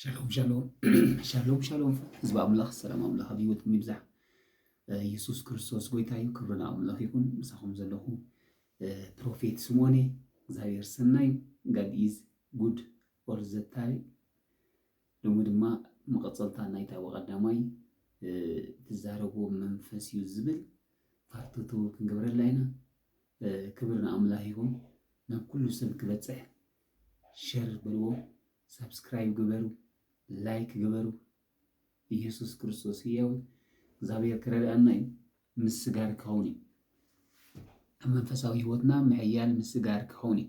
ሻሎም ሻሎም ሻሎም ሻሎም ህዝቢ ኣምላኽ ሰላም ኣምላኽ ኣብ ህይወትኩም ይብዛሕ ኢየሱስ ክርስቶስ ጎይታ እዩ ክብሪ ንኣምላኽ ይኹን ምሳኹም ዘለኹ ፕሮፌት ስምኦን እየ እግዚኣብሔር ሰናይ ጋድ ኢዝ ጉድ ኦል ዘ ታይም ሎሚ ድማ መቐፀልታ ናይታ ብቐዳማይ ትዛረቦ መንፈስ እዩ ዝብል ፓርትቱ ክንገብረላ ኢና ክብሪ ንኣምላኽ ይኹን ናብ ኩሉ ሰብ ክበፅሕ ሸር በልዎ ሳብስክራይብ ግበሩ ላይክ ግበሩ ኢየሱስ ክርስቶስ ህያው እግዚኣብሔር ክረድኣና እዩ ምስ ስጋር ክኸውን እዩ ኣብ መንፈሳዊ ህይወትና ምሕያል ምስ ስጋር ክኸውን እዩ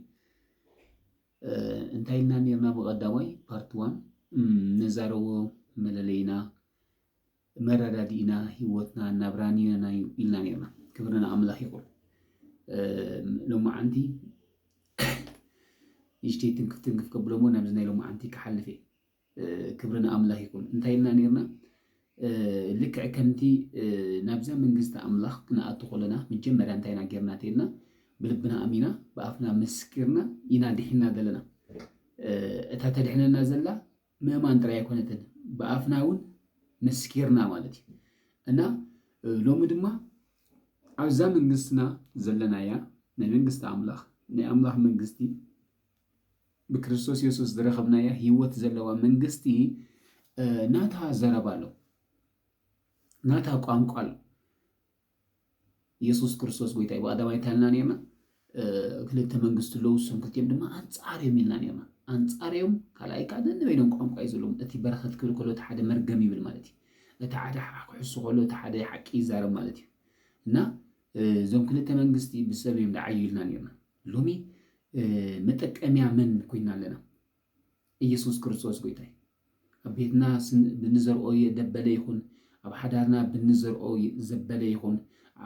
እንታይ ኢልና ነርና ብቐዳማይ ፓርት ዋን ነዛረቦ መለለይና መረዳዲእና ሂወትናን ናብራን ይነና እዩ ኢልና ኔርና ክብሪ ንኣምላኽ ይኹን ሎማዓንቲ ንእሽተይ ትንክፍ ትንክፍ ከብሎ እሞ ናብዚ ናይ ሎማዓንቲ ክሓልፍ እየ ክብሪ ንኣምላኽ ይኹን እንታይ ኢልና ኔርና ልክዕ ከምቲ ናብዛ መንግስቲ ኣምላኽ ክንኣቱ ከለና መጀመርያ እንታይ ኢና ጌርና ተይልና ብልብና ኣሚና ብኣፍና መስኪርና ኢና ድሒና ዘለና እታ ተድሕነና ዘላ ምእማን ጥራይ ኣይኮነትን ብኣፍና እውን መስኪርና ማለት እዩ እና ሎሚ ድማ ኣብዛ መንግስትና ዘለናያ ናይ መንግስቲ ኣምላኽ ናይ ኣምላኽ መንግስቲ ብክርስቶስ የሱስ ዝረኸብናያ ህይወት ዘለዋ መንግስቲ ናታ ዘረባ ኣሎ ናታ ቋንቋ ኣሎ የሱስ ክርስቶስ ጎይታ እዩ ብቀዳማይ እንታይ ኢልና ነይርና ክልተ መንግስቲ ኣለዉ እሶም ክልቲኦም ድማ ኣንጻር እዮም ኢልና ነርና ኣንጻር እዮም ካልኣይ ከዓ ነንበይኖም ቋንቋ እዩ ዘለዎም እቲ በረኸት ክብል ከሎ እቲ ሓደ መርገም ይብል ማለት እዩ እቲ ሓደ ክሕሱ ከሎ እቲ ሓደ ሓቂ ይዛረብ ማለት እዩ እና እዞም ክልተ መንግስቲ ብሰብ እዮም ዝዓዩ ኢልና ነርና ሎሚ መጠቀምያ መን ኮይና ኣለና እየሱስ ክርስቶስ ጎይታ እዩ። ኣብ ቤትና ብንዘርኦ የደበለ ይኹን፣ ኣብ ሓዳርና ብንዘርኦ ዘበለ ይኹን፣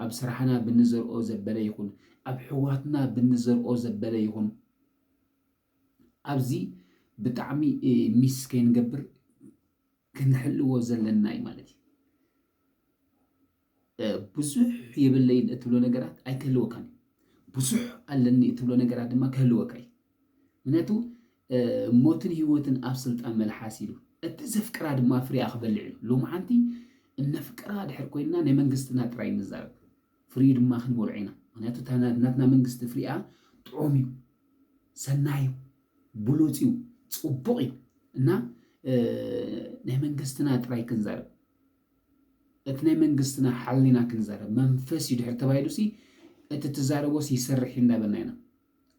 ኣብ ስራሕና ብንዘርኦ ዘበለ ይኹን፣ ኣብ ሕዋትና ብንዘርኦ ዘበለ ይኹን፣ ኣብዚ ብጣዕሚ ሚስ ከይንገብር ክንሕልዎ ዘለና እዩ ማለት እዩ። ብዙሕ የብለይን እትብሎ ነገራት ኣይክህልወካን እዩ። ብዙሕ ኣለኒ እትብሎ ነገራት ድማ ክህልወካ እዩ። ምክንያቱ ሞትን ህይወትን ኣብ ስልጣን መልሓስ ኢሉ እቲ ዘፍቅራ ድማ ፍሬያ ክበልዕ እዩ። ሎሚ ሓንቲ እነፍቅራ ድሕር ኮይና ናይ መንግስትና ጥራይ ንዛረብ ፍሪኡ ድማ ክንበልዖ ኢና። ምክንያቱ ናትና መንግስቲ ፍሪኣ ጥዑም እዩ፣ ሰናይ እዩ፣ ብሉፅ እዩ፣ ፅቡቕ እዩ እና ናይ መንግስትና ጥራይ ክንዛረብ እቲ ናይ መንግስትና ሓሊና ክንዛረብ መንፈስ እዩ ድሕሪ ተባሂሉሲ እቲ ትዛረቦስ ይሰርሕ እዩ እንዳበልና ኢና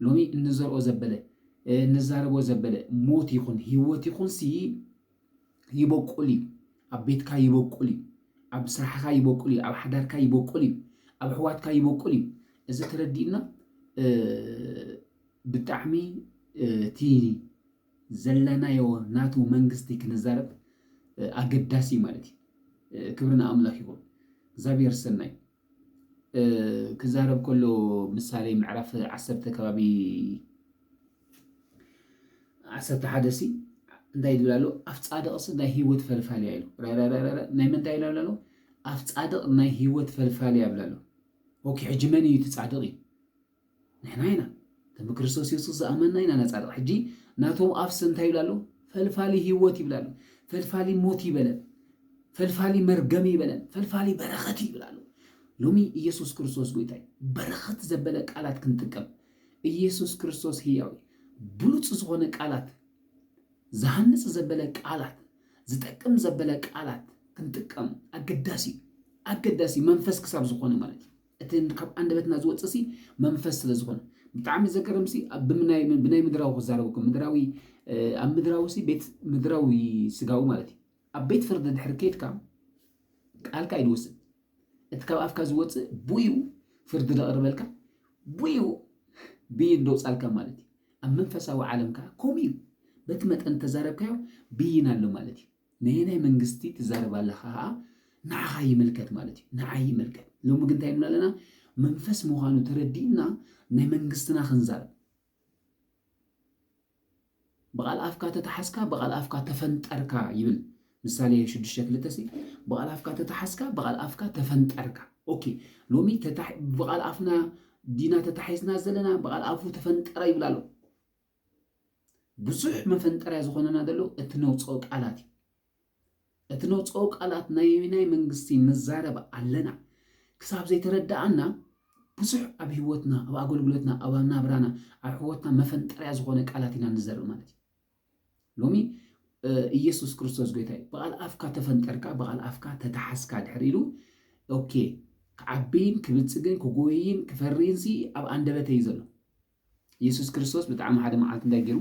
ሎሚ እንዘርኦ ዘበለ እንዛረቦ ዘበለ ሞት ይኹን ህይወት ይኹንሲ ይበቁል እዩ ኣብ ቤትካ ይበቁል እዩ ኣብ ስራሕኻ ይበቁል እዩ ኣብ ሓዳርካ ይበቁል እዩ ኣብ ኣሕዋትካ ይበቁል እዩ እዚ ተረዲእና ብጣዕሚ እቲ ዘለናዮ ናቱ መንግስቲ ክንዛረብ ኣገዳሲ እዩ ማለት እዩ። ክብሪ ንኣምላኽ ይኹን። እግዚኣብሔር ሰናይ ክዛረብ ከሎ ምሳሌ ምዕራፍ ዓሰርተ ከባቢ ዓሰርተ ሓደ ሲ እንታይ ዝብል ኣሎ ኣፍ ጻድቕስ ናይ ህይወት ፈልፋልያ ኢሉ ናይ ምንታይ ኢላ ኣሎ ኣፍ ጻድቕ ናይ ህይወት ፈልፋልያ ይብላ ኣሎ ኦኬ ሕጂ መን እዩ እቲ ጻድቕ እዩ ንሕና ኢና እቶም ብክርስቶስ የሱስ ዝኣመንና ኢና ነጻ ደቕ ሕጂ ናቶም ኣፍሰ እንታይ ይብል ኣሎ ፈልፋሊ ህይወት ይብል ኣሎ ፈልፋሊ ሞት ይበለን ፈልፋሊ መርገም ይበለን ፈልፋሊ በረኸት ይብል ኣሎ ሎሚ ኢየሱስ ክርስቶስ ጎይታይ በረኸት ዘበለ ቃላት ክንጥቀም ኢየሱስ ክርስቶስ ህያው ብሉፅ ዝኾነ ቃላት ዝሃንፅ ዘበለ ቃላት ዝጠቅም ዘበለ ቃላት ክንጥቀም ኣገዳሲ ኣገዳሲ መንፈስ ክሳብ ዝኾነ ማለት እዩ እቲ ካብ ኣንደበትና ዝወጽእሲ መንፈስ ስለ ዝኾነ ብጣዕሚ ዘገርምሲ ብናይ ብናይ ምድራዊ ክዛረበኩም ምድራዊ ኣብ ምድራዊሲ ቤት ምድራዊ ስጋዊ ማለት እዩ ኣብ ቤት ፍርዲ ድሕሪ ኬድካ ቃልካ ኣይድወስድ እቲ ካብ ኣፍካ ዝወፅእ ብኡ ፍርዲ ዘቕርበልካ ብኡ ብይን ደውፃልካ ማለት እዩ ኣብ መንፈሳዊ ዓለም ከዓ ከምኡ እዩ በቲ መጠን ተዛረብካዮ ብይን ኣሎ ማለት እዩ ነየናይ መንግስቲ ትዛረብ ኣለኻ ከኣ ንዓኻ ይምልከት ማለት እዩ ንዓይ ይምልከት ሎሚ ግን እንታይ ንብል ኣለና መንፈስ ምዃኑ ተረዲእና ናይ መንግስትና ክንዛረብ ብቓል ኣፍካ ተተሓዝካ ብቓል ኣፍካ ተፈንጠርካ ይብል ምሳሌ ሽዱሽተ ክልተ ሲ ብቓል ኣፍካ ተተሓዝካ ብቓል ኣፍካ ተፈንጠርካ ኦኬ ሎሚ ብቓል ኣፍና ዲና ተታሒዝና ዘለና ብቓል ኣፉ ተፈንጠረ ይብል ኣሎ ብዙሕ መፈንጠርያ ዝኾነና ዘሎ እቲ ነውፀኦ ቃላት እዩ። እቲ ነውፀኦ ቃላት ናየናይ መንግስቲ ንዛረብ ኣለና ክሳብ ዘይተረዳኣና ብዙሕ ኣብ ህይወትና ኣብ ኣገልግሎትና ኣብ ናብራና ኣብ ሕወትና መፈንጠርያ ዝኾነ ቃላት ኢና ንዘርእ ማለት እዩ ሎሚ ኢየሱስ ክርስቶስ ጎይታ እዩ ብቓል ኣፍካ ተፈንጠርካ ብቓል ኣፍካ ተተሓስካ ድሕር ኢሉ ኦኬ ክዓብይን ክብልፅግን ክጎይን ክፈርይን ሲ ኣብ ኣንደበተ እዩ ዘሎ የሱስ ክርስቶስ ብጣዕሚ ሓደ መዓልቲ እንታይ ገይሩ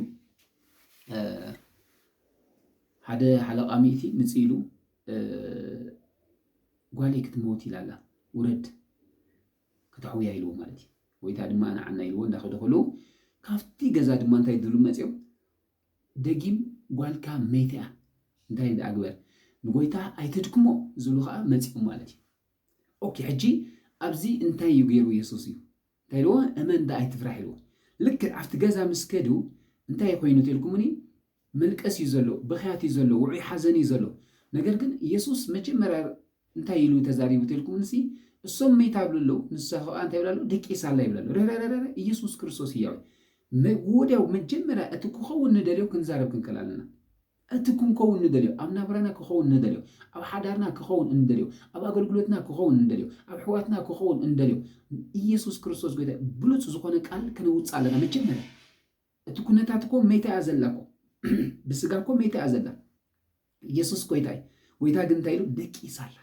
ሓደ ሓለቓ ሚእቲ ምፅ ኢሉ ጓለይ ክትመውት ኢላ ኣላ ውረድ ከተሕውያ ኢልዎ ማለት እዩ ወይታ ድማ ንዓና ኢልዎ እንዳኸደ ከለዉ ካብቲ ገዛ ድማ እንታይ ድሉ መፅኦም ደጊም ጓልካ መይተ እያ እንታይ ደኣ ግበር ንጎይታ ኣይተድክሞ ዝብሉ ከዓ መፅኦም ማለት እዩ ኦኬ ሕጂ ኣብዚ እንታይ እዩ ገይሩ የሱስ እዩ እንታይ ኢልዎ እመን ዳኣ ኣይትፍራሕ ኢልዎ ልክዕ ኣብቲ ገዛ ምስ ከዱ እንታይ እዩ ኮይኑ ተልኩሙኒ መልቀስ እዩ ዘሎ ብኽያት እዩ ዘሎ ውዑይ ሓዘን እዩ ዘሎ ነገር ግን ኢየሱስ መጀመርያ እንታይ ኢሉ ተዛሪቡ ተልኩሙንሲ እሶም መይታ ኣብሉ ኣለዉ ንሳ ኸኣ እንታይ ይብላ ኣሎ ደቂስ ኣላ ይብላ ኣሎ ረረረረ ኢየሱስ ክርስቶስ ህያው እዩ ወዲያው መጀመርያ እቲ ክኸውን ንደልዮ ክንዛረብ ክንከል ኣለና እቲ ክንከውን ንደልዮ፣ ኣብ ናብራና ክኸውን ንደልዮ፣ ኣብ ሓዳርና ክኸውን እንደልዮ፣ ኣብ ኣገልግሎትና ክኸውን እንደልዮ፣ ኣብ ኣሕዋትና ክኸውን እንደልዮ፣ ኢየሱስ ክርስቶስ ጎይታ እዩ፣ ብሉጽ ዝኾነ ቃል ከነውጽእ ኣለና መጀመርያ። እቲ ኩነታት እኮ መይታ እያ ዘላ እኮ ብስጋ እኮ መይታ እያ ዘላ። ኢየሱስ ጎይታ እዩ። ጎይታ ግን እንታይ ኢሉ ደቂሳ ኣላ።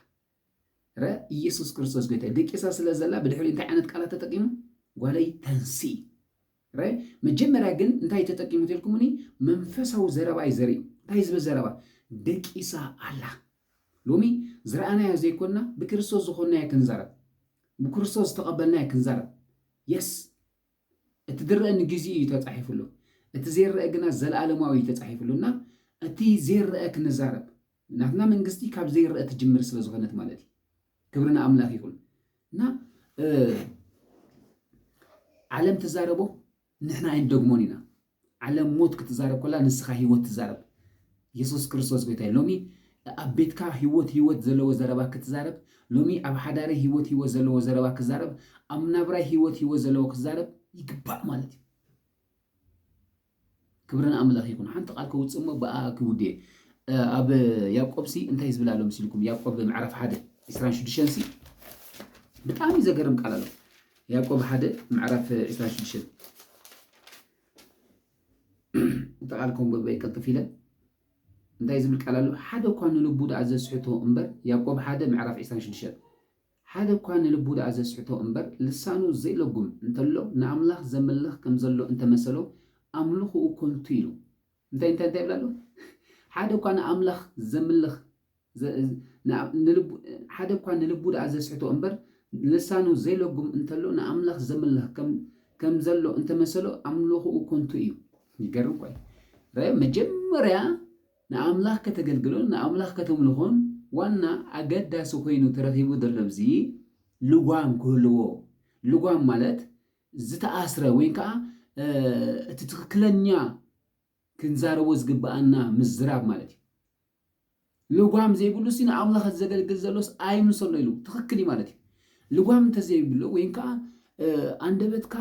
ረ ኢየሱስ ክርስቶስ ጎይታ እዩ። ደቂሳ ስለ ዘላ ብድሕሪ እንታይ ዓይነት ቃላት ተጠቂሙ ጓለይ ተንስኢ እረ መጀመርያ ግን እንታይ ተጠቂሙ ተልኩሙኒ መንፈሳዊ ዘረባ እዩ ዘሪኡ እንታይ ዝብል ዘረባ ደቂሳ ኣላ ሎሚ ዝረኣናዮ ዘይኮንና ብክርስቶስ ዝኾንናዮ ክንዛረብ ብክርስቶስ ዝተቐበልናዮ ክንዛረብ የስ እቲ ዝረአ ንግዚኡ እዩ ተጻሒፉሉ እቲ ዘይረአ ግና ዘለኣለማዊ እዩ ተጻሒፉሉ እና እቲ ዘይረአ ክንዛረብ ናትና መንግስቲ ካብ ዘይረኣ ትጅምር ስለ ዝኾነት ማለት እዩ ክብሪ ንኣምላኽ ይኹን እና ዓለም ትዛረቦ ንሕና ኣይንደግሞን ኢና ዓለም ሞት ክትዛረብ ኮላ ንስኻ ህይወት ትዛረብ የሱስ ክርስቶስ ጎይታ እዩ ሎሚ ኣብ ቤትካ ህይወት ህይወት ዘለዎ ዘረባ ክትዛረብ ሎሚ ኣብ ሓዳሪ ህይወት ህይወት ዘለዎ ዘረባ ክዛረብ ኣብ ናብራይ ህይወት ህይወት ዘለዎ ክዛረብ ይግባእ ማለት እዩ ክብሪ ንኣምላኽ ይኹን። ሓንቲ ቃል ከውጽእ እሞ ብኣኣ ክውድኤ። ኣብ ያዕቆብሲ እንታይ ዝብል ኣሎ መሲልኩም? ያዕቆብ ምዕራፍ ሓደ ዕስራን ሽዱሽተን ሲ ብጣዕሚ ዘገርም ቃል ኣሎ። ያዕቆብ ሓደ ምዕራፍ ዕስራን ሽዱሽተን እቲ ቃል ከምበበይ ቅልጥፍ ኢለ እንታይ ዝብል ቃል ኣሎ? ሓደ እኳ ንልቡ ደኣ ዘስሕቶ እምበር ያዕቆብ ሓደ ምዕራፍ ዕስራን ሽዱሽተን ሓደ እኳ ንልቡ ደኣ ዘስሕቶ እምበር ልሳኑ ዘይለጉም እንተሎ ንኣምላኽ ዘምልኽ ከም ዘሎ እንተ መሰሎ ኣምልኹኡ ከንቱ ኢሉ እንታይ እንታይ እንታይ ይብል ኣሎ ሓደ እኳ ንኣምላኽ ዘምልኽ ንልቡ ሓደ እኳ ንልቡ ደኣ ዘስሕቶ እምበር ልሳኑ ዘይለጉም እንተሎ ንኣምላኽ ዘምልኽ ከም ከም ዘሎ እንተ መሰሎ ኣምልኹኡ ከንቱ እዩ ይገርም እኳ እዩ ረኣዮ መጀመርያ ንኣምላኽ ከተገልግሎን ንኣምላኽ ከተምልኾን ዋና ኣገዳሲ ኮይኑ ተረኺቡ ዘሎ ብዚ ልጓም ክህልዎ ልጓም ማለት ዝተኣስረ ወይ ከዓ እቲ ትኽክለኛ ክንዛረቦ ዝግብኣና ምዝራብ ማለት እዩ ልጓም ዘይብሉ ሲ ንኣምላኽ ዘገልግል ዘሎስ ኣይምሰሎ ኢሉ ትኽክል እዩ ማለት እዩ ልጓም እንተዘይብሉ ወይ ከዓ ኣንደበትካ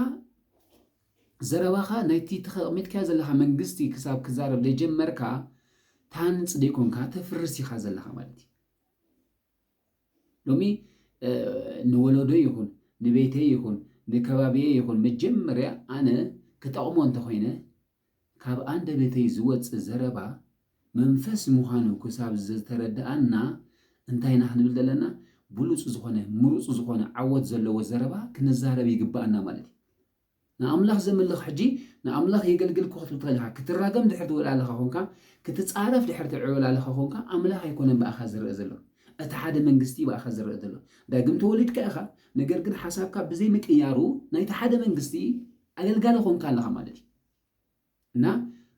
ዘረባኻ ናይቲ ተኸቕሚጥካዮ ዘለኻ መንግስቲ ክሳብ ክዛረብ ዘይጀመርካ ትሃንጽ ዘይኮንካ ተፍርስ ኢኻ ዘለኻ ማለት እዩ። ሎሚ ንወለዶይ ይኹን ንቤተይ ይኹን ንከባቢየይ ይኹን መጀመርያ ኣነ ክጠቕሞ እንተኾይነ ካብ ኣንደበተይ ዝወጽእ ዘረባ መንፈስ ምዃኑ ክሳብ ዝተረድኣና እንታይ ኢና ክንብል ዘለና ብሉጽ ዝኾነ ምሩጽ ዝኾነ ዓወት ዘለዎ ዘረባ ክንዛረብ ይግብኣና ማለት እዩ። ንኣምላኽ ዘምልኽ ሕጂ ንኣምላኽ የገልግል እኮ ክትብል ከለኻ ክትራገም ድሕሪ ትውዕላለኻ ኮንካ ክትጻረፍ ድሕሪ ትዕውላለኻ ኮንካ ኣምላኽ ኣይኮነን ብኣኻ ዝረኣ ዘሎ እቲ ሓደ መንግስቲ ብኣኻ ዝረኣ ዘሎ ዳግም ተወሊድካ ኢኻ ነገር ግን ሓሳብካ ብዘይ ምቅያሩ ናይቲ ሓደ መንግስቲ ኣገልጋሊ ኾንካ ኣለኻ ማለት እዩ። እና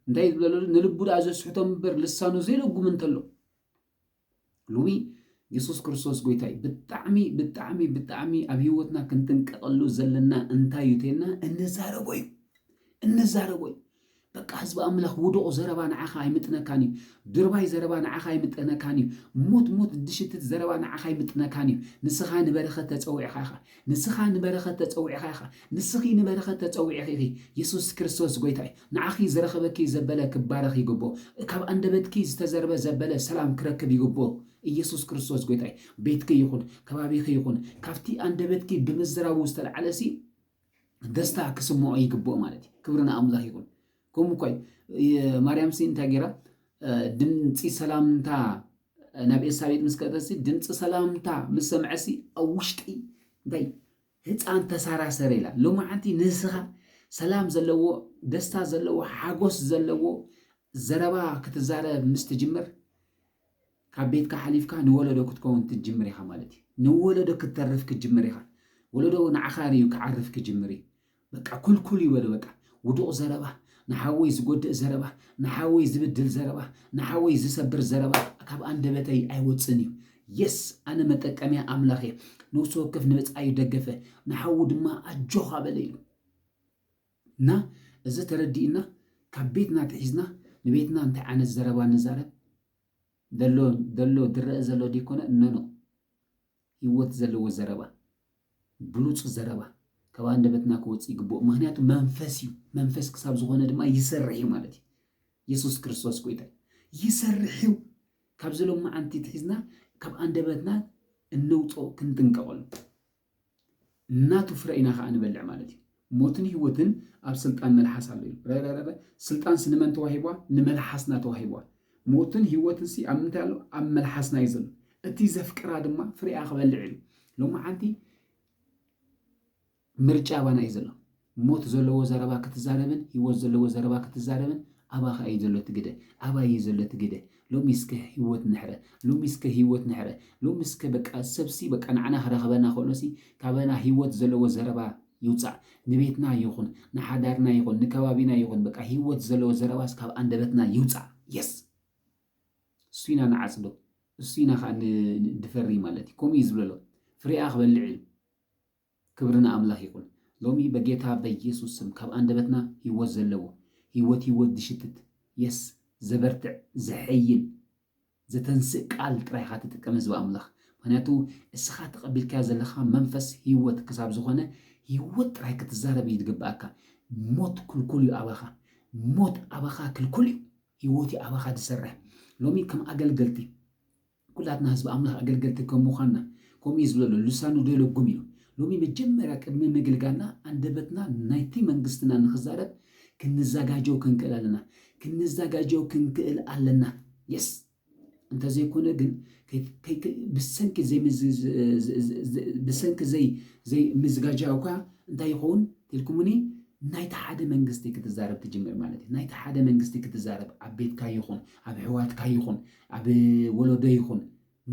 እንታይ እዩ ዝብለሉ ንልቡ ደኣ ዘስሕቶ እምበር ልሳኑ ዘይልጉም እንተሎ ሎሚ የሱስ ክርስቶስ ጎይታ እዩ። ብጣዕሚ ብጣዕሚ ብጣዕሚ ኣብ ህይወትና ክንጥንቀቐሉ ዘለና እንታይ እዩ ተይልና እንዛረቦ እዩ እንዛረቦ እዩ በቃ ህዝቢ ኣምላኽ ውዱቕ ዘረባ ንዓኻ ኣይምጥነካን እዩ። ድርባይ ዘረባ ንዓኻ ኣይምጠነካን እዩ። ሙት ሙት ድሽትት ዘረባ ንዓኻ ኣይምጥነካን እዩ። ንስኻ ንበረኸት ተጸዊዕኻ ኢኻ። ንስኻ ንበረኸት ተጸዊዕኻ ኢኻ። ንስኺ ንበረኸት ተጸዊዕኺ ኢኺ። የሱስ ክርስቶስ ጎይታ እዩ። ንዓኺ ዝረኸበኪ ዘበለ ክባረኽ ይግብኦ። ካብ ኣንደበትኪ ዝተዘርበ ዘበለ ሰላም ክረክብ ይግብኦ። ኢየሱስ ክርስቶስ ጎይታ እዩ። ቤትኪ ይኹን፣ ከባቢኺ ይኹን፣ ካብቲ ኣንደበትኪ ብምዝራቡ ዝተልዓለሲ ደስታ ክስምዖ ይግብኦ ማለት እዩ። ክብሪ ንኣምላኽ ይኹን። ከምኡ እኳ እዩ ማርያምሲ እንታይ ገይራ ድምፂ ሰላምታ ናብ ኤልሳቤጥ ምስ ከእተሲ ድምፂ ሰላምታ ምስ ሰምዐሲ ኣብ ውሽጠይ እንታይ ህፃን ተሳራሰረ ኢላ ሎማዓንቲ ንስኻ ሰላም ዘለዎ ደስታ ዘለዎ ሓጎስ ዘለዎ ዘረባ ክትዛረብ ምስ ትጅምር ካብ ቤትካ ሓሊፍካ ንወለዶ ክትከውን ክትጅምር ኢኻ ማለት እዩ። ንወለዶ ክትተርፍ ክትጅምር ኢኻ። ወለዶ ንዓኻ ርእዩ ክዓርፍ ክጅምር እዩ። በቃ ኩልኩል ይበሉ በቃ። ውዱቕ ዘረባ፣ ንሓወይ ዝጎድእ ዘረባ፣ ንሓወይ ዝብድል ዘረባ፣ ንሓወይ ዝሰብር ዘረባ ካብ ኣንደበተይ ኣይወጽእን እዩ። የስ ኣነ መጠቀምያ ኣምላኽ እየ። ነውሲ ወከፍ ንብጻዩ ደገፈ፣ ንሓዉ ድማ ኣጆኻ በለ ኢሉ። እና እዚ ተረዲእና ካብ ቤትና ኣትሒዝና ንቤትና እንታይ ዓይነት ዘረባ ንዛረብ ደሎ ደሎ ድረእ ዘሎ ዲኮነ እነኖ ህይወት ዘለዎ ዘረባ ብሉፅ ዘረባ ካብ ኣንደበትና ክወፅእ ይግብኦ ምክንያቱ መንፈስ እዩ መንፈስ ክሳብ ዝኾነ ድማ ይሰርሕ እዩ ማለት እዩ የሱስ ክርስቶስ ጎይታ ይሰርሕ እዩ ካብዚ ሎማዓንቲ ትሒዝና ካብ ኣንደበትና እነውፅኦ ክንጥንቀቐሉ ናቱ ፍረ ኢና ከኣ ንበልዕ ማለት እዩ። ሞትን ሂወትን ኣብ ስልጣን መልሓስ ኣሎ እዩ። ረረረረ ስልጣንስ ንመን ተዋሂቧ ንመልሓስና ተዋሂቧ። ሞትን ሂወትንሲ ኣብ ምንታይ ኣሎ ኣብ መልሓስና እዩ ዘሎ። እቲ ዘፍቅራ ድማ ፍሪኣ ክበልዕ እዩ። ሎምዓንቲ ምርጫ ኣባና እዩ ዘሎ። ሞት ዘለዎ ዘረባ ክትዛረብን ሂወት ዘለዎ ዘረባ ክትዛረብን ኣባኻ እዩ ዘሎ እቲ ግደ ኣባይ እዩ ዘሎ እቲ ግደ ሎሚ እስከ ሂወት ንሕረ ሎሚ እስከ ሂወት ንሕረ ሎሚ እስከ በቃ ሰብሲ በቃ ንዓና ክረኽበና ከሎሲ ካባና ሂወት ዘለዎ ዘረባ ይውጻእ ንቤትና ይኹን ንሓዳርና ይኹን ንከባቢና ይኹን በቃ ሂወት ዘለዎ ዘረባስ ካብ ኣንደበትና ይውጻእ የስ እሱ ኢና ንዓጽዶ እሱ ኢና ከዓ ንድፈሪ ማለት እዩ ከምኡ እዩ ዝብለሎ ፍሬኣ ክበልዕ እዩ ክብሪ ንኣምላኽ ይኹን ሎሚ በጌታ በየሱስ ስም ካብ ኣንደበትና ሂወት ዘለዎ ሂወት ሂወት ድሽትት የስ ዘበርትዕ ዘሐይል ዘተንስእ ቃል ጥራይ ኢኻ ትጥቀም ህዝቢ ኣምላኽ ምክንያቱ እስኻ ተቐቢልካዮ ዘለኻ መንፈስ ሂወት ክሳብ ዝኾነ ሂወት ጥራይ ክትዛረብ እዩ ዝግብኣካ ሞት ክልኩል እዩ ኣባኻ ሞት ኣባኻ ክልኩል እዩ ሂወት እዩ ኣባኻ ዝሰርሕ ሎሚ ከም ኣገልገልቲ ኩላትና ህዝቢ ኣምላኽ ኣገልገልቲ ከም ምዃንና፣ ከምኡ እዩ ዝብለሎ፣ ልሳኑ ደይለጉም እዩ። ሎሚ መጀመርያ ቅድሚ ምግልጋልና ኣንደበትና ናይቲ መንግስትና ንክዛረብ ክንዛጋጀው ክንክእል ኣለና። ክንዛጋጀው ክንክእል ኣለና። የስ! እንተዘይኮነ ግን ብሰንኪ ብሰንኪ ዘይ ዘይ ምዝጋጃውካ እንታይ ይኸውን ትልኩሙኒ ናይቲ ሓደ መንግስቲ ክትዛረብ ትጅምር ማለት እዩ። ናይቲ ሓደ መንግስቲ ክትዛረብ ኣብ ቤትካ ይኹን ኣብ ኣሕዋትካ ይኹን ኣብ ወሎዶ ይኹን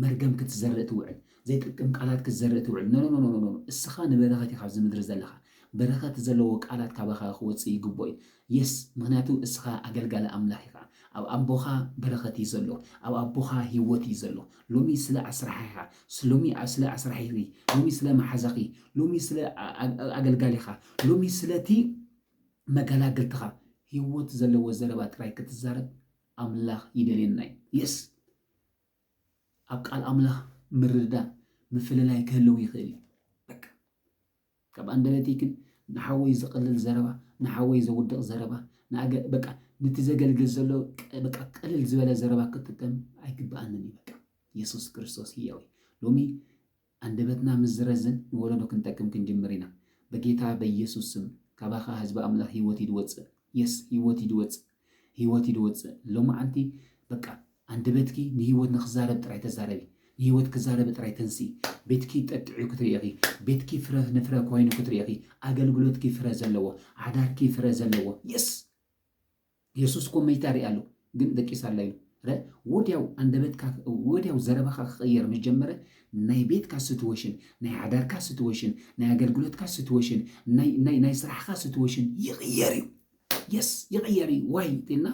መርገም ክትዘርእ ትውዕል ዘይጥቅም ቃላት ክትዘርእ ትውዕል ኖኖኖኖኖ እስኻ ንበረኸት ኢኻ ኣብዚ ምድሪ ዘለኻ በረኸት ዘለዎ ቃላት ካባኻ ክወጽእ ይግብኦ እዩ የስ ምክንያቱ እስኻ ኣገልጋሊ ኣምላኽ ኢኻ ኣብ ኣቦኻ በረኸት እዩ ዘሎ ኣብ ኣቦኻ ህይወት እዩ ዘሎ ሎሚ ስለ ኣስራሒኻ ሎሚ ስለ ኣስራሒኺ ሎሚ ስለ መሓዛኺ ሎሚ ስለ ኣገልጋሊኻ ሎሚ ስለቲ መገላገልትኻ ህይወት ዘለዎ ዘረባ ጥራይ ክትዛረብ ኣምላኽ ይደልየና እዩ Yes ኣብ ቃል ኣምላኽ ምርድዳእ ምፍልላይ ክህልው ይኽእል እዩ በቃ ካብ ኣንደበተይ ግን ንሓወይ ዝቕልል ዘረባ ንሓወይ ዘውድቕ ዘረባ ንኣገ በቃ ንቲ ዘገልግል ዘሎ በቃ ቅልል ዝበለ ዘረባ ክጥቀም ኣይግብኣንን እዩ በቃ የሱስ ክርስቶስ ህያው እዩ ሎሚ ኣንደበትና ምስ ዝረዝን ንወለዶ ክንጠቅም ክንጅምር ኢና በጌታ በየሱስ ስም ካባካ ህዝቢ ኣምላክ ሂወት ኢዱ ወጽእ የስ ሂወት ኢዱ ወጽእ ሂወት ኢዱ ወጽእ ሎማዓንቲ በቃ ኣንደበትኪ ንሂወት ንክዛረብ ጥራይ ተዛረቢ ንሂወት ክዛረቢ ጥራይ ተንስኢ ቤትኪ ጠጥዕዩ ክትርእኺ ቤትኪ ፍረ ንፍረ ኮይኑ ክትርእኺ ኣገልግሎትኪ ፍረ ዘለዎ ዓዳርኪ ፍረ ዘለዎ የስ የሱስ እኮ መይታ ሪኣ ኣሎ ግን ደቂሳ ኣላ ኢሉ ረ ወድያው ኣንደበትካ ወድያው ዘረባኻ ክቕየር ምስ ጀመረ ናይ ቤትካ ስትወሽን ናይ ሓዳርካ ስትወሽን ናይ ኣገልግሎትካ ስትወሽን ናይ ናይ ናይ ስራሕካ ስትወሽን ይቕየር እዩ የስ ይቕየር እዩ ዋይ እንተልና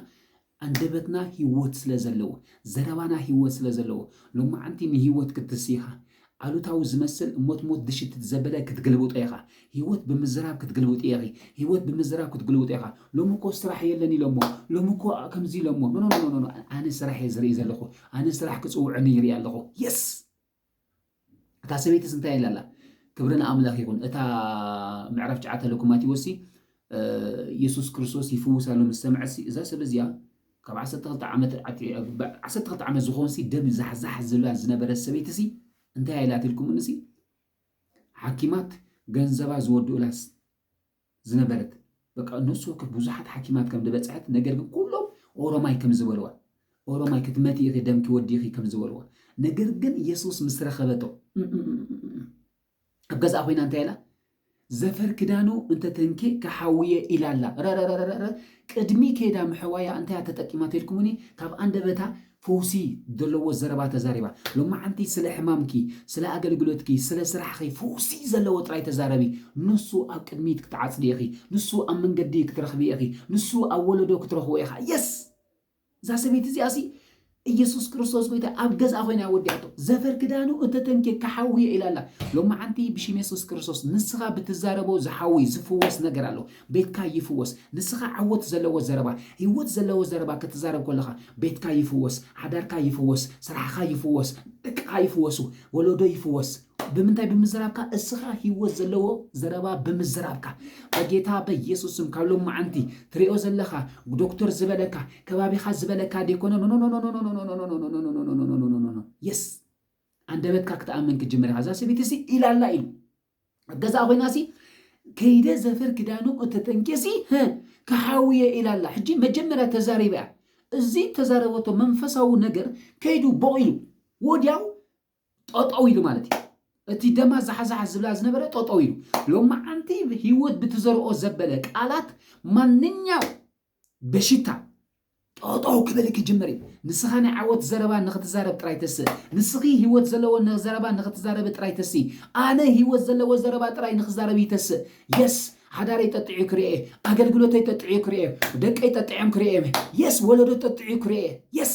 ኣንደበትና ህይወት ስለ ዘለዎ ዘረባና ህይወት ስለ ዘለዎ ሎማዓንቲ ንህይወት ክትስይኻ ኣሉታዊ ዝመስል እሞትሞት ድሽትት ዘበለ ክትግልብጦ ኢኻ ሂወት ብምዝራብ ክትግልብጢ ኢኺ ሂወት ብምዝራብ ክትግልብጦ ኢኻ ሎሚ እኮ ስራሕ የለን ኢሎሞ ሎሚ እኮ ከምዚ ኢሎሞ ኖኖኖኖኖ ኣነ ስራሕ እየ ዝርኢ ዘለኹ ኣነ ስራሕ ክጽውዕኒ ይርኢ ኣለኹ የስ እታ ሰበይትስ እንታይ ኢላ ኣላ ክብሪ ንኣምላኽ ይኹን እታ ምዕራፍ ጨዓተ ለኩማቲዎሲ የሱስ ክርስቶስ ይፍውስ ኣሎ ምስ ሰምዐሲ እዛ ሰብ እዚኣ ካብ ዓሰርተ ክልተ ዓመት ኣቲ ዓሰርተ ክልተ ዓመት ዝኾንሲ ደም ዛሕዛሕ ዝብላ ዝነበረት ሰበይቲሲ እንታይ ኣይ ኢላት ኢልኩምንሲ ሓኪማት ገንዘባ ዝወድኡላስ ዝነበረት በቃ ነፍሲ ወከፍ ብዙሓት ሓኪማት ከም ዝበፅሐት ነገር ግን ኩሎም ኦሮማይ ከም ዝበልዋ ኦሮማይ ክትመቲ ኢኺ ደምኪ ወዲኺ ከም ዝበልዋ ነገር ግን ኢየሱስ ምስ ረኸበቶ ኣብ ገዝኣ ኮይና እንታይ ኢላ ዘፈር ክዳኑ እንተ ተንኬ ክሓውየ ኢላ ኣላ ረረረረረ ቅድሚ ከይዳ ምሕዋያ እንታያ ተጠቂማ ተልኩምኒ ካብ ኣንደበታ ፈውሲ ዘለዎ ዘረባ ተዛሪባ ሎማዓንቲ ስለ ሕማምኪ ስለ ኣገልግሎትኪ ስለ ስራሕኺ ፈውሲ ዘለዎ ጥራይ ተዛረቢ ንሱ ኣብ ቅድሚት ክትዓጽዲ ኢኺ ንሱ ኣብ መንገዲ ክትረኽቢ ኢኺ ንሱ ኣብ ወለዶ ክትረኽቦ ኢኻ የስ እዛ ሰበይቲ እዚኣሲ ኢየሱስ ክርስቶስ ጎይታ ኣብ ገዛ ኮይና ወዲያቶ ዘፈር ክዳኑ እንተተንኬ ክሓውየ ኢላ ኣላ ሎማዓንቲ ብሽም የሱስ ክርስቶስ ንስኻ ብትዛረቦ ዝሓዊ ዝፍወስ ነገር ኣሎ ቤትካ ይፍወስ ንስኻ ዓወት ዘለዎ ዘረባ ህይወት ዘለዎ ዘረባ ክትዛረብ ከለኻ ቤትካ ይፍወስ ሓዳርካ ይፍወስ ስራሕኻ ይፍወስ ደቅኻ ይፍወሱ ወለዶ ይፍወስ ብምንታይ ብምዝራብካ እስኻ ህይወት ዘለዎ ዘረባ ብምዝራብካ በጌታ በየሱስ ስም ካብ ሎም መዓንቲ ትሪኦ ዘለኻ ዶክተር ዝበለካ ከባቢኻ ዝበለካ ዴኮነ የስ ኣንደበትካ ክትኣምን ክጅምር ኢኻ እዛ ሰበይቲ ሲ ኢላላ ኢሉ ኣብ ገዛ ኮይና ሲ ከይደ ዘፈር ክዳኑ እተጠንቄሲ ክሓውየ ኢላላ ሕጂ መጀመርያ ተዛሪባ እያ እዚ ተዛረበቶ መንፈሳዊ ነገር ከይዱ ቦቕ ኢሉ ወዲያው ጠጠው ኢሉ ማለት እዩ። እቲ ደማ ዛሓዛሓ ዝብላ ዝነበረ ጠጠው ኢሉ ሎማዓንቲ ህይወት ብትዘርኦ ዘበለ ቃላት ማንኛው በሽታ ጠጠው ክብል ክጅምር እዩ። ንስኻ ናይ ዓወት ዘረባ ንክትዛረብ ጥራይ ተስ ንስኺ ህይወት ዘለዎ ዘረባ ንክትዛረቢ ጥራይ ተስ ኣነ ህይወት ዘለዎ ዘረባ ጥራይ ንክዛረብ ይተስ የስ ሓዳረይ ጠጥዑ ክርኤ ኣገልግሎተይ ጠጥዑ ክርኤ ደቀይ ጠጥዖም ክርኤ የስ ወለዶ ጠጥዑ ክርኤ የስ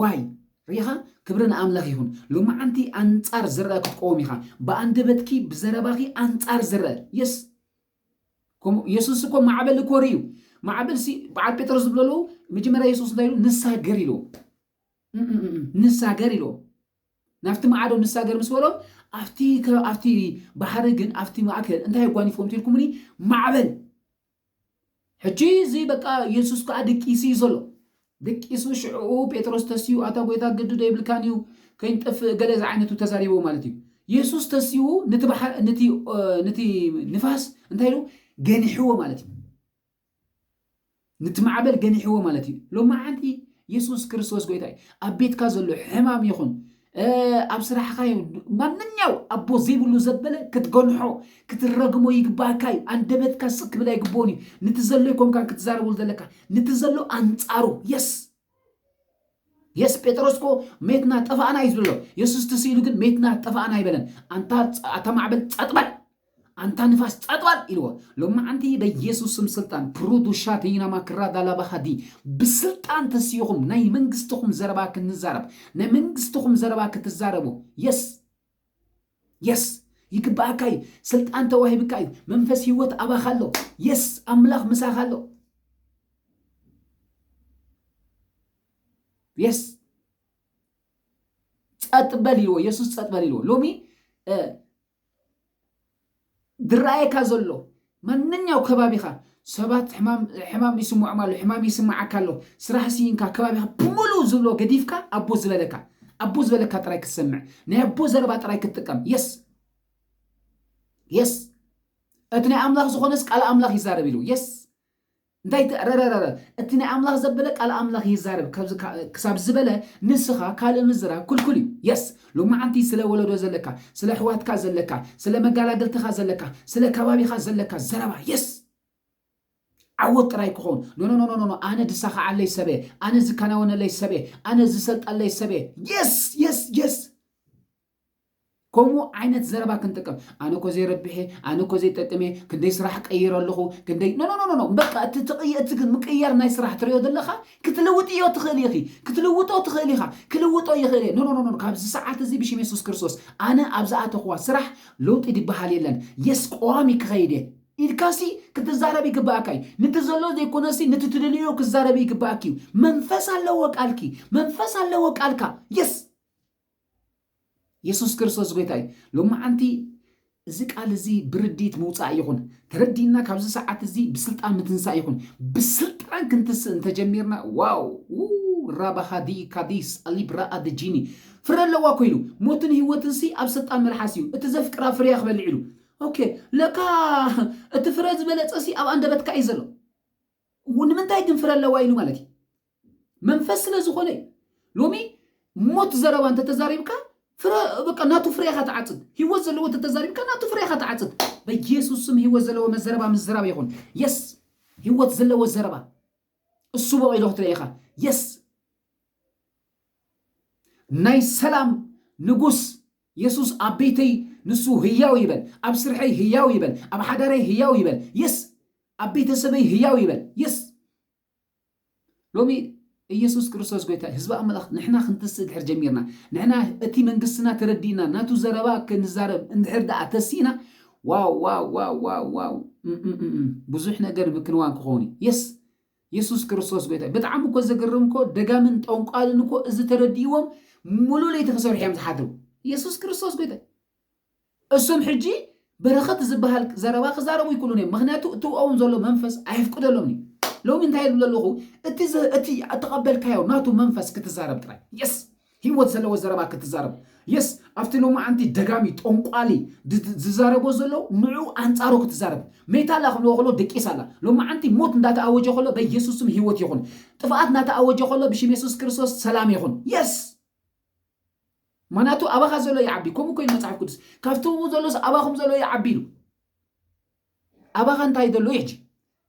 ዋይ ሪኢኻ ክብሪ ንኣምላኽ ይኹን ሎማዓንቲ ኣንጻር ዝረኣ ክትቆወም ኢኻ ብኣንደበትኪ ብዘረባኺ ኣንጻር ዝረኣ የስ ከምኡ የሱስ እኮ ማዕበል እኮ ርእዩ ማዕበል ሲ በዓል ጴጥሮስ ዝብሎ ኣለዉ መጀመርያ የሱስ እንታይ ኢሉ ንሳገር ኢልዎ ንሳገር ኢልዎ ናብቲ ማዕዶ ንሳገር ምስ በሎ ኣብቲ ባሕሪ ግን ኣብቲ ማእከል እንታይ ኣጓኒፍዎም ትልኩምኒ ማዕበል ሕጂ እዚ በቃ የሱስ ከኣ ደቂሱ እዩ ዘሎ ደቂሱ ሽዕኡ ጴጥሮስ ተስዩ ኣታ ጎይታ ግዲ ዶ ይብልካን እዩ ከይንጠፍእ ገለ ዝዓይነቱ ተዛሪቦ ማለት እዩ የሱስ ተስዩ ንቲ ባሕር ንቲ ንቲ ንፋስ እንታይ ኢሉ ገኒሕዎ ማለት እዩ ንቲ ማዕበል ገኒሕዎ ማለት እዩ ሎማዓንቲ የሱስ ክርስቶስ ጎይታ እዩ ኣብ ቤትካ ዘሎ ሕማም ይኹን ኣብ ስራሕኻ እዩ ማንኛው ኣቦ ዘይብሉ ዘበለ ክትገንሖ ክትረግሞ ይግባእካ እዩ ኣንደበትካ ስክ ክብል ኣይግብኦን እዩ ንቲ ዘሎ ይኮንካ ክትዛረብሉ ዘለካ ንቲ ዘሎ ኣንጻሩ የስ የስ ጴጥሮስ ኮ ሜትና ጠፋእና እዩ ዝብሎ የሱስ ትስኢሉ ግን ሜትና ጠፋእና ኣይበለን ኣንታ ኣታ ማዕበል ጸጥበል ኣንታ ንፋስ ጸጥባል ኢልዎ ሎማዓንቲ በየሱስ ስም ስልጣን ፕሩዱ ሻተይና ማክራ ዳላባኻዲ ብስልጣን ተሲኹም ናይ መንግስትኹም ዘረባ ክንዛረብ ናይ መንግስትኹም ዘረባ ክትዛረቡ የስ የስ ይግባኣካ እዩ ስልጣን ተዋሂብካ እዩ መንፈስ ህይወት ኣባኻ ኣሎ የስ ኣምላኽ ምሳኻ ኣሎ የስ ጸጥበል ኢልዎ የሱስ ጸጥበል ኢልዎ ሎሚ ዝረኣየካ ዘሎ ማንኛው ከባቢኻ ሰባት ሕማም ይስምዖም ኣሎ፣ ሕማም ይስምዓካ ኣሎ፣ ስራሕ ስኢንካ ከባቢኻ ብምሉኡ ዝብሎ ገዲፍካ ኣቦ ዝበለካ ኣቦ ዝበለካ ጥራይ ክትሰምዕ ናይ ኣቦ ዘረባ ጥራይ ክትጥቀም የስ የስ እቲ ናይ ኣምላኽ ዝኾነስ ቃል ኣምላኽ ይዛረብ ኢሉ የስ እንታይ እቲ ረረረረ እቲ ናይ ኣምላኽ ዘበለ ቃል ኣምላኽ ይዛረብ ክሳብ ዝበለ ንስኻ ካልእ ምዝራብ ኩልኩል እዩ የስ ሎማዓንቲ ስለ ወለዶ ዘለካ ስለ ኣሕዋትካ ዘለካ ስለ መጋላግልትኻ ዘለካ ስለ ከባቢኻ ዘለካ ዘረባ የስ ዓወት ጥራይ ክኸውን ኖኖኖኖኖ ኣነ ድሳኻዓለይ ሰበ ኣነ ዝከናወነለይ ሰበ ኣነ ዝሰልጠለይ ሰበ የስ የስ የስ ከምኡ ዓይነት ዘረባ ክንጥቀም ኣነ እኮ ዘይረብሔ ኣነ እኮ ዘይጠቅም እየ ክንደይ ስራሕ ቀይረ ኣለኹ ክንደይ ኖኖኖኖ በቃ እቲ ትቕይ እቲ ግን ምቅያር ናይ ስራሕ ትሪኦ ዘለኻ ክትልውጥዮ ትኽእል ኢኺ ክትልውጦ ትኽእል ኢኻ ክልውጦ ይኽእል እየ ኖኖኖኖ ካብዚ ሰዓት እዚ ብሽም የሱስ ክርስቶስ ኣነ ኣብ ዝኣተኽዋ ስራሕ ለውጢ ዝበሃል የለን የስ ቀዋሚ ክኸይድ እየ ኢልካሲ ክትዛረብ ይግባኣካ እዩ ንቲ ዘሎ ዘይኮነሲ ንቲ ትደልዮ ክዛረብ ይግባኣኪ እዩ መንፈስ ኣለዎ ቃልኪ መንፈስ ኣለዎ ቃልካ የስ የሱስ ክርስቶስ ጎይታ እዩ። ሎማዓንቲ እዚ ቃል እዚ ብርድኢት ምውፃእ ይኹን ተረዲእና ካብዚ ሰዓት እዚ ብስልጣን ምትንሳእ ይኹን ብስልጣን ክንትስእ እንተጀሚርና ዋው ራባኻዲ ካዲስ ኣሊብራኣ ድጂኒ ፍረ ኣለዋ ኮይኑ ሞትን ህይወትን ሲ ኣብ ስልጣን መልሓስ እዩ እቲ ዘፍቅራ ፍርያ ክበልዕ ኢሉ ኦኬ ለካ እቲ ፍረ ዝበለፀ ሲ ኣብ ኣንደበትካ እዩ ዘሎ ንምንታይ ግን ፍረ ኣለዋ ኢሉ ማለት እዩ መንፈስ ስለ ዝኾነ እዩ ሎሚ ሞት ዘረባ እንተተዛሪብካ ፍረ በቃ ናቱ ፍሬ ኢኻ ትዓጽድ ህይወት ዘለዎ እንተተዛሪብካ ናቱ ፍሬ ኢኻ ትዓጽድ በኢየሱስ ስም ህይወት ዘለዎ መዘረባ ምዝራብ ይኹን የስ ህይወት ዘለዎ ዘረባ እሱ በቂሎ ክትርኢ ኢኻ የስ ናይ ሰላም ንጉስ የሱስ ኣብ ቤተይ ንሱ ህያው ይበል ኣብ ስርሐይ ህያው ይበል ኣብ ሓዳረይ ህያው ይበል የስ ኣብ ቤተሰበይ ህያው ይበል የስ ሎሚ ኢየሱስ ክርስቶስ ጎይታ እዩ። ህዝቢ ኣምላኽ ንሕና ክንትስእ ድሕር ጀሚርና፣ ንሕና እቲ መንግስትና ተረዲእና ናቱ ዘረባ ክንዛረብ እንድሕር ደኣ ተሲእና ዋው ዋው ዋው ዋው ዋው እምእምእም ብዙሕ ነገር ምክንዋን ክኸውን እዩ። የስ የሱስ ክርስቶስ ጎይታ እዩ። ብጣዕሚ እኮ ዘገርም እኮ ደጋምን ጠንቋልን እኮ እዚ ተረዲእዎም ሙሉእ ለይቲ ክሰርሑ እዮም ዝሓድሩ። የሱስ ክርስቶስ ጎይታ እዩ። እሱም ሕጂ በረኸት ዝባሃል ዘረባ ክዛረቡ ኣይክሉን እዮም ምክንያቱ እቲ ኡኣውን ዘሎ መንፈስ ኣየፍቅደሎምን እዩ ሎሚ እንታይ ይብል ኣለኹ እቲ እቲ ተቐበልካዮ ናቱ መንፈስ ክትዛረብ ጥራይ የስ ህይወት ዘለዎ ዘረባ ክትዛረብ የስ ኣብቲ ሎማዓንቲ ደጋሚ ጦንቋሊ ዝዛረቦ ዘሎ ንዑ ኣንጻሩ ክትዛረብ ሜታላ ክንዎ ከሎ ደቂሳ ኣላ ሎማዓንቲ ሞት እንዳተኣወጀ ከሎ በየሱስም ህይወት ይኹን ጥፍኣት እንዳተኣወጀ ከሎ ብሽም የሱስ ክርስቶስ ሰላም ይኹን የስ ምክንያቱ ኣባካ ዘሎ ይዓቢ ከምኡ ኮይኑ መጽሓፍ ቅዱስ ካብቲ ኣብኡ ዘሎስ ኣባኩም ዘሎ ይዓቢ ኢሉ ኣባካ እንታይ ዘሎ እዩ ሕጂ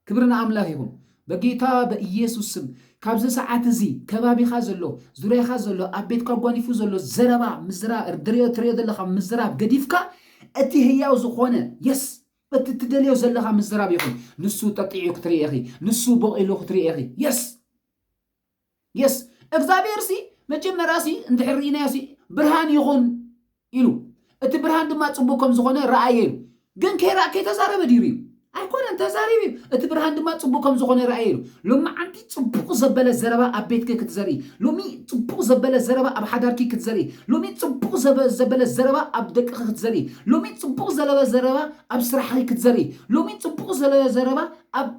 ክብሪ ንኣምላክ ይኹን በጌታ በኢየሱስ ስም ካብዚ ሰዓት እዚ ከባቢካ ዘሎ ዙርያካ ዘሎ ኣብ ቤትካ ጓኒፉ ዘሎ ዘረባ ምዝራ ድርዮ ትርዮ ዘለካ ምዝራብ ገዲፍካ እቲ ህያው ዝኾነ የስ እቲ ትደልዮ ዘለካ ምዝራብ ይኹን ንሱ ጠጢዑ ክትርኢ ኢኺ ንሱ በቂሉ ክትርኢ ኢኺ የስ የስ እግዚኣብሔር ሲ መጀመርያ ሲ እንድሕር ርኢናዮ ሲ ብርሃን ይኹን ኢሉ እቲ ብርሃን ድማ ጽቡቅ ከም ዝኾነ ረኣየ ኢሉ ግን ከይረኣ ከይተዛረበ ድዩ ርዩ ኣይኮነን ተዛሪቡ እዩ እቲ ብርሃን ድማ ጽቡቅ ከም ዝኾነ ረኣየ ኢሉ ሎማዓንቲ ጽቡቅ ዘበለ ዘረባ ኣብ ቤትኪ ክትዘርኢ ሎሚ ጽቡቅ ዘበለ ዘረባ ኣብ ሓዳርኪ ክትዘርኢ ሎሚ ጽቡቅ ዘበ- ዘበለ ዘረባ ኣብ ደቅኺ ክትዘርኢ ሎሚ ጽቡቅ ዘለበ ዘረባ ኣብ ስራሕኺ ክትዘርኢ ሎሚ ጽቡቅ ዘለ ዘረባ ኣብ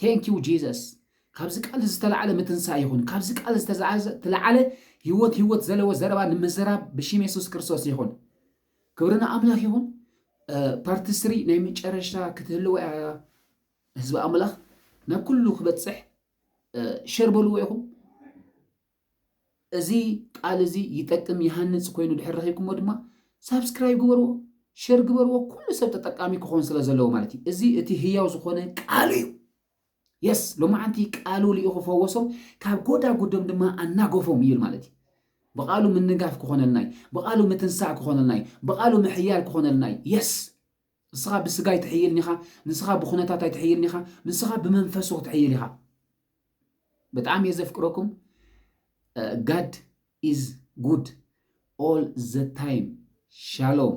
Thank you Jesus ካብዚ ቃል እዚ ዝተላዕለ ምትንሳእ ይኹን ካብዚ ቃል ዝተላዕለ ህይወት ህይወት ዘለዎ ዘረባ ንምዝራብ ብሽም የሱስ ክርስቶስ ይኹን ክብሪ ንኣምላኽ ይኹን ፓርቲ ስሪ ናይ መጨረሻ ክትህልወ እያ ህዝቢ ኣምላኽ ናብ ኩሉ ክበፅሕ ሸር በልዎ ኢኹም እዚ ቃል እዚ ይጠቅም ይሃንጽ ኮይኑ ድሕር ረኺብኩሞ ድማ ሳብስክራይብ ግበርዎ ሸር ግበርዎ ኩሉ ሰብ ተጠቃሚ ክኾን ስለ ዘለዎ ማለት እዩ እዚ እቲ ህያው ዝኾነ ቃሉ እዩ የስ ሎማዓንቲ ቃሉ ልኢኹ ፈወሶም ካብ ጎዳጉዶም ድማ ኣናጎፎም እዩል ማለት እዩ ብቃሉ ምንጋፍ ክኾነልና እዩ ብቃሉ ምትንሳእ ክኾነልና እዩ ብቃሉ ምሕያል ክኾነልና እዩ የስ ንስኻ ብስጋ ኣይትሕይልን ኢኻ፣ ንስኻ ብኹነታት ኣይትሕይልን ኢኻ፣ ንስኻ ብመንፈሱ ክትሕይል ኢኻ። ብጣዕሚ እየ ዘፍቅረኩም። ጋድ ኢዝ ጉድ ኦል ዘ ታይም ሻሎም።